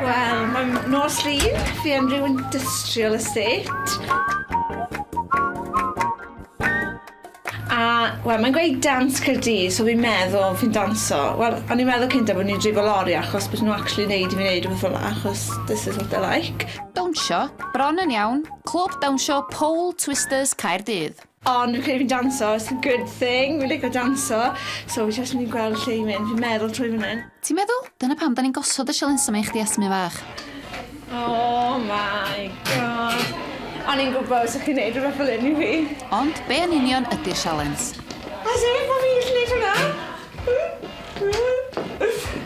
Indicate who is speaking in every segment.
Speaker 1: Wel, mae'n nos lun, fi am rhyw industrial estate. Wel, mae'n gweud dans Cyrdydd, so fi'n meddwl fi'n danso. Wel, o'n i'n meddwl cyntaf bod ni'n drifo lori achos bod nhw'n actually neud i fi neud rhywbeth fel achos this is what I like. Dawnsio,
Speaker 2: bron yn iawn, Clwb Dawnsio Pole Twisters Caerdydd. Ond fi'n credu fi'n
Speaker 1: danso, it's a good thing, fi'n lico danso, so fi jyst myn' i gweld lle i mynd, fi'n meddwl trwy fyn 'yn. Ti'n meddwl? Dyna pam 'dan
Speaker 2: ni'n gosod y sialensau 'ma i chdi Esme fach. Oh
Speaker 1: my God. O'n i'n gwbo' 'sych chi'n neud rwbeth fel 'yn i fi. Ond be' yn union
Speaker 2: ydi'r sialens? As if bo'
Speaker 1: fi'n gallu neud hwnna!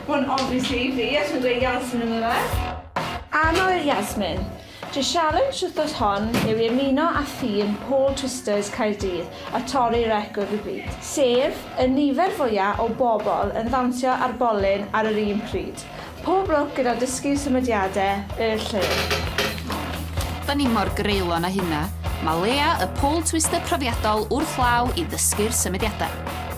Speaker 1: Wel obviously fi, achos ma'n dweud Yasmin ynddo fe. Anwyl Yasmin. Dy sialens wthnos hon yw i ymuno â thîm Pole Twisters Caerdydd a torri record y byd, sef y nifer fwya o bobl yn ddawnsio ar bolyn ar yr un pryd. Pob lwc gyda dysgu symudiade y lle.
Speaker 2: Da ni mor greulon â hynna, mae Lea y Pole Twister profiadol wrth law i ddysgu'r symudiadau.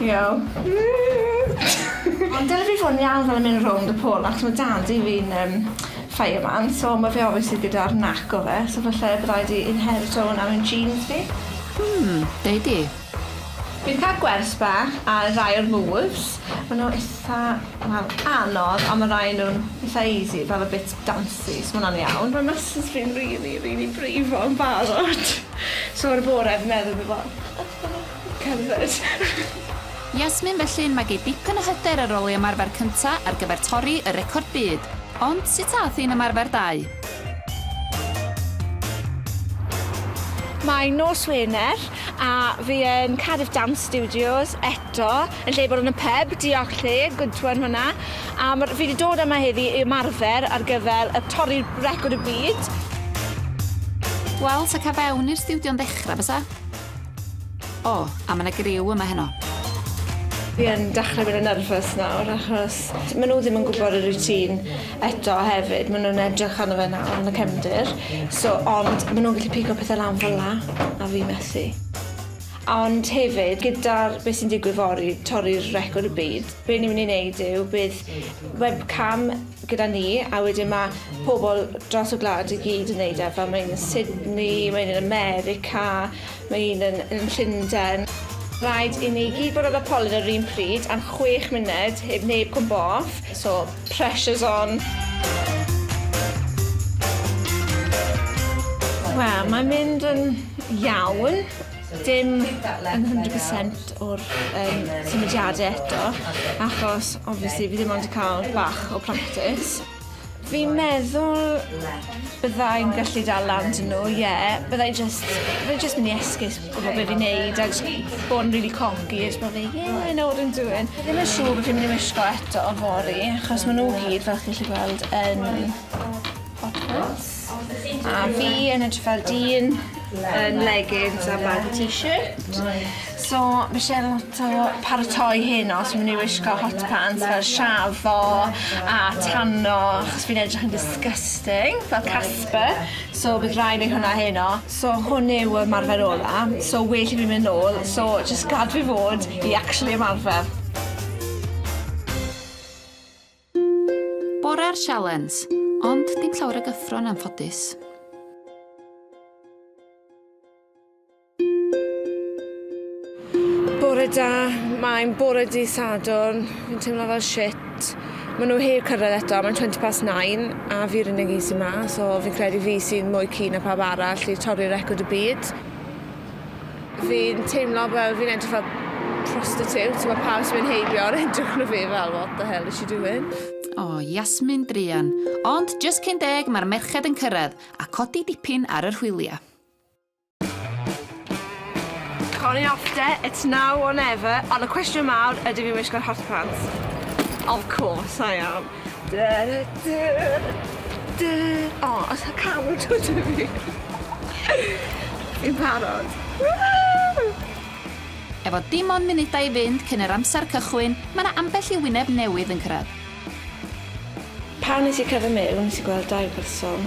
Speaker 1: Iawn. Ond dyle fi fod yn iawn fel yn mynd rownd y pole achos ma' dad-cu fi'n yym fireman so ma' fe obviously gyda'r nac o fe so falle by' raid i inherito wnna mewn genes fi. Hmm, deud
Speaker 2: di. Fi 'di ca'l
Speaker 1: gwers bach ar rai o'r moves. Ma' n'w itha wel anodd on' ma' rai o nw'n itha easy fel y bit dancy so ma' wnna'n iawn. Ma' muscles fi'n rili rili brifo yn barod. So ar y bore fi'n meddwl fi fel Cerdded.
Speaker 2: Yasmin Felly mae gei dipyn o hyder ar ôl ei ymarfer cynta ar gyfer torri y record byd. Ond sut aeth ein ymarfer dau?
Speaker 1: Mae nos Wener a fi yn Cardiff Dance Studios eto yn lle bod yn y pyb, diolch lle, good one hwnna. A ma- fi 'di dod yma heddi i ymarfer ar gyfer y torri record y byd.
Speaker 2: Wel, 'sa ca' fewn i'r stiwdio'n ddechra bysa? O, a mae yna griw yma heno. Fi
Speaker 1: yn dechrau bod yn nerfus nawr achos maen nhw ddim yn gwybod y routine eto hefyd. Maen nhw'n edrych arno fe nawr yn y cefndir. So, ond maen nhw'n gallu pigo pethau lan fel la a fi methu. Ond hefyd, gyda'r beth sy'n digwydd fory, torri'r record y byd, be ni'n mynd i wneud yw bydd webcam gyda ni a wedyn ma' pobol dros y gwlad i gyd yn neud e fel mae un yn Sydney mae un yn America mae un yn yn Llunden. Rhaid i ni gyd bod ar y polyn yr un pryd am chwech munud heb neb cwmpo off so pressure's on. Wel mae'n mynd yn iawn. dim yn hundred percent o'r yym symudiade eto achos obviously fi ddim ond 'di ca'l bach o practis. Fi'n meddwl byddai'n gallu dal lan 'da n'w ie byddai jyst byddai jyst myn' i esgus gwbo be' fi'n neud a jys bo' yn rili cocky a jys bo' fi ie I know what I'm doing. Fi ddim yn siŵr bo' fi myn' i wisgo eto fory achos ma' n'w gyd fel chi 'llu gweld yn Popeth. A fi yn edrych fel dyn yn leggings a bag a t-shirt. So ma' isie lot o paratoi heno so myn' i wisgo hot pants fel shafo a tanno achos fi'n edrych yn disgusting fel Casper so bydd rai' neud hwnna heno. So hwn yw y marfer ola so well i fi myn' nôl so jyst gad fi fod i actually ymarfer.
Speaker 2: Bore'r sialens, ond dim llawer o gyffro yn anffodus.
Speaker 1: Bore da, mae'n bore di Sadwrn, fi'n teimlo fel shit. Mae nhw heb cyrraedd eto, mae'n 20 past 9 a fi'r unig un sy'n ma, so fi'n credu fi sy'n mwy keen na pawb arall i torri record y byd. Fi'n teimlo fel fi'n edrych fel prostitute, ti'n gwybod pawb sy'n mynd heibio ar edrych na fi fel what the hell is she doing? O, oh, Yasmin
Speaker 2: druan. Ond, just cyn deg, mae'r merched yn cyrraedd, a codi dipyn ar yr hwyliau.
Speaker 1: Connie off de, it's now or never, ond y cwestiwn mawr, ydy fi'n wisgo'r hot pants? Of course I am. Dy dy dy. O, oh, os y cam yn dod i fi. Fi'n parod.
Speaker 2: Efo dim ond munudau i fynd cyn yr amser cychwyn, mae yna ambell i wyneb newydd yn cyrraedd.
Speaker 1: Pan nes i cerdded mewn, nes i gweld dau berson.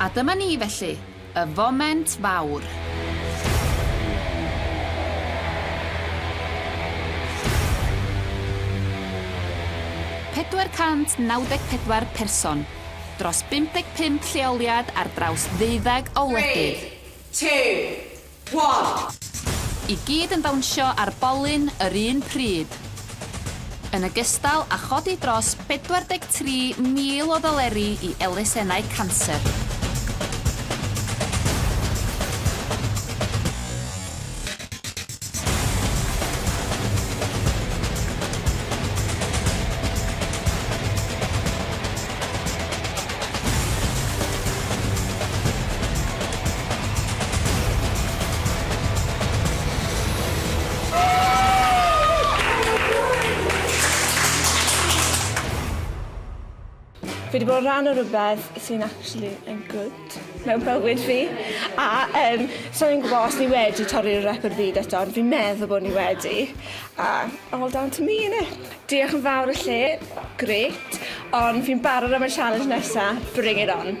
Speaker 2: A dyma ni felly, y foment fawr. Pedwar cant naw deg pedwar person, dros bump deg pump lleoliad ar draws ddeuddeg o wledydd. 3, 2,
Speaker 3: One! I gyd
Speaker 2: yn dawnsio ar bolyn yr un pryd. Yn ogystal â chodi dros 43,000 o ddoleri i elusennau canser.
Speaker 1: Fi 'di bod yn rhan o rwbeth sy'n actually yn good. mewn bywyd fi a yym sai'n gwbo os ni wedi torri rep o'r byd eto ond fi'n meddwl bo' ni wedi a all down to me innit? Diolch yn fawr y lle, grêt, ond fi'n barod am y challenge nesa, bring it on.